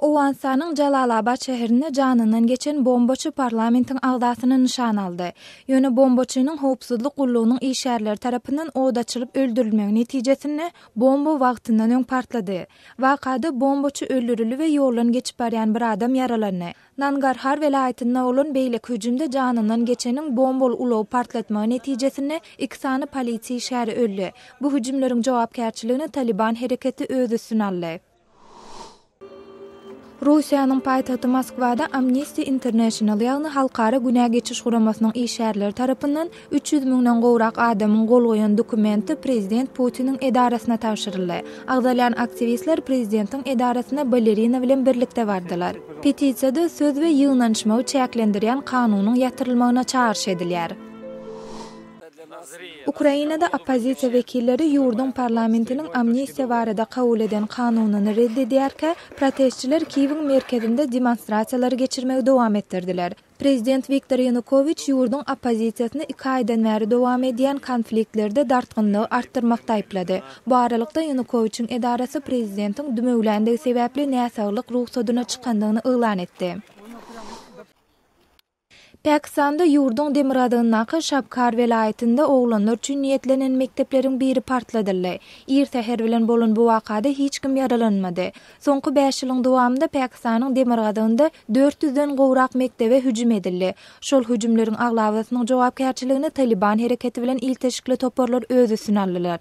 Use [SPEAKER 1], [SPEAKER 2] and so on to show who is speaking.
[SPEAKER 1] Owganystanyň Jalalabad şäherinde janyndan geçen bombaçy parlamentiň agzasyny nyşana aldy. Ýöne bombaçynyň howpsuzlyk gullugynyň işgärleri tarapyndan od açylyp öldürilmegi netijesinde bomba wagtyndan öň partlady. Wakada bombaçy öldürildi we ýoldan geçip barýan bir adam ýaralandy. Nangarhar welaýatynda bolan beýleki hüjümde janyndan geçeniň bombaly ulagy partlatmagy netijesinde iki sany polisiýa işgäri öldi. Bu hüjümleriň jogapkärçiligini Talyban hereketi öz üstüne aldy. Russiýanyň paýtagty Moskwada Amnesty International, ýagny Halkara günä geçiş guramasynyň işgärleri tarapyndan Üç ýüz müňden gowrak adamyň gol goýan dokumenti prezident Putiniň edarasyna tabşyryldy. Agzalýan aktiwistler prezidentiň edarasyna balerina bilen birlikde bardylar. Petisiýada söz we ýygnanyşmagy çäklendirýän kanunyň ýatyrylmagyna çagyryş edilýär. Ukrainada oppozisiýa wekilleri ýurduň parlamentiniň amnistiýa barada kabul eden kanunyny red edýärkä, protestçiler Kiýewiň merkezinde demonstrasiýalary geçirmegi dowam etdirdiler. Prezident Wiktor Ýanukowiç ýurduň oppozisiýasyny iki aýdan bäri dowam edýän konfliktlerde dartgynlygy artdyrmakda aýyplady. Bu aralykda, Ýanukowiçiň edarasy prezidentiň dümewländigi sebäpli näsaglyk rugsadyna çykandygyny yglan etdi. Pakistanda ýurduň demirgazygyndaky Şabkar welaýatynda oglanlar üçin niýetlenen mekdepleriň biri partladyldy. Ir säher bilen bolan bu wakada hiç kim ýaralanmady. Soňky bäş ýylyň dowamynda Pakistanyň demirgazygynda dört ýüzden gowrak mekdebe hüjüm edildi. Şol hüjümleriň aglabasynyň jogapkärçiligini Talyban hereketi bilen ilteşikli toparlar öz üstüne aldylar.